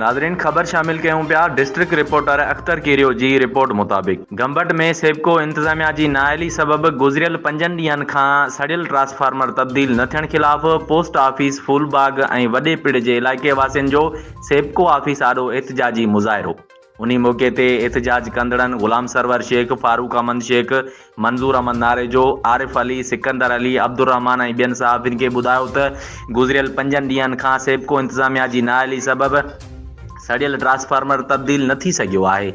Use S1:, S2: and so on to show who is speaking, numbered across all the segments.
S1: ناظرين خبر شامل ڪيون پيا ڊسٽرڪٽ رپورٽر اختر ڪيريو جي رپورٽ مطابق گمبٽ ۾ سيپڪو انتظاميا جي نااهلي سبب گذريل پنجن ڏينهن کان سڙيل ٽرانسفارمر تبديل نه ٿيڻ خلاف پوسٽ آفيس ڦول باغ ۽ وڏي پڙ جي علائقي واسين جو سيپڪو آفيس آڏو احتجاجي مظاهرو انهي موقعي تي احتجاج ڪندڙن غلام سرور شيخ فاروق احمد شيخ منظور احمد ناريجو، عارف علي، سڪندر علي، عبدالرحمان ۽ ٻين صحافين کي ٻڌايو ته گذريل پنجن ڏينهن کان سيپڪو انتظاميا جي نااهلي سبب سڙيل ٽرانسفارمر تبديل نه ٿي سگهيو آهي،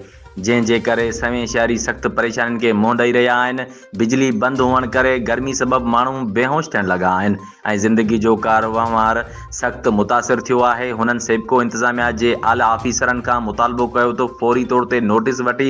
S1: جنهن جي ڪري سوين شهري سخت پريشانين کي منهن ڏئي رهيا آهن، بجلي بند هئڻ ڪري گرمي سبب ماڻهو بيهوش ٿيڻ لڳا آهن ۽ زندگي جو ڪار وهنوار سخت متاثر ٿيو آهي، هنن سيپڪو انتظاميا جي اعليٰ آفيسرن کان مطالبو ڪيو ته فوري طور تي نوٽيس وٺي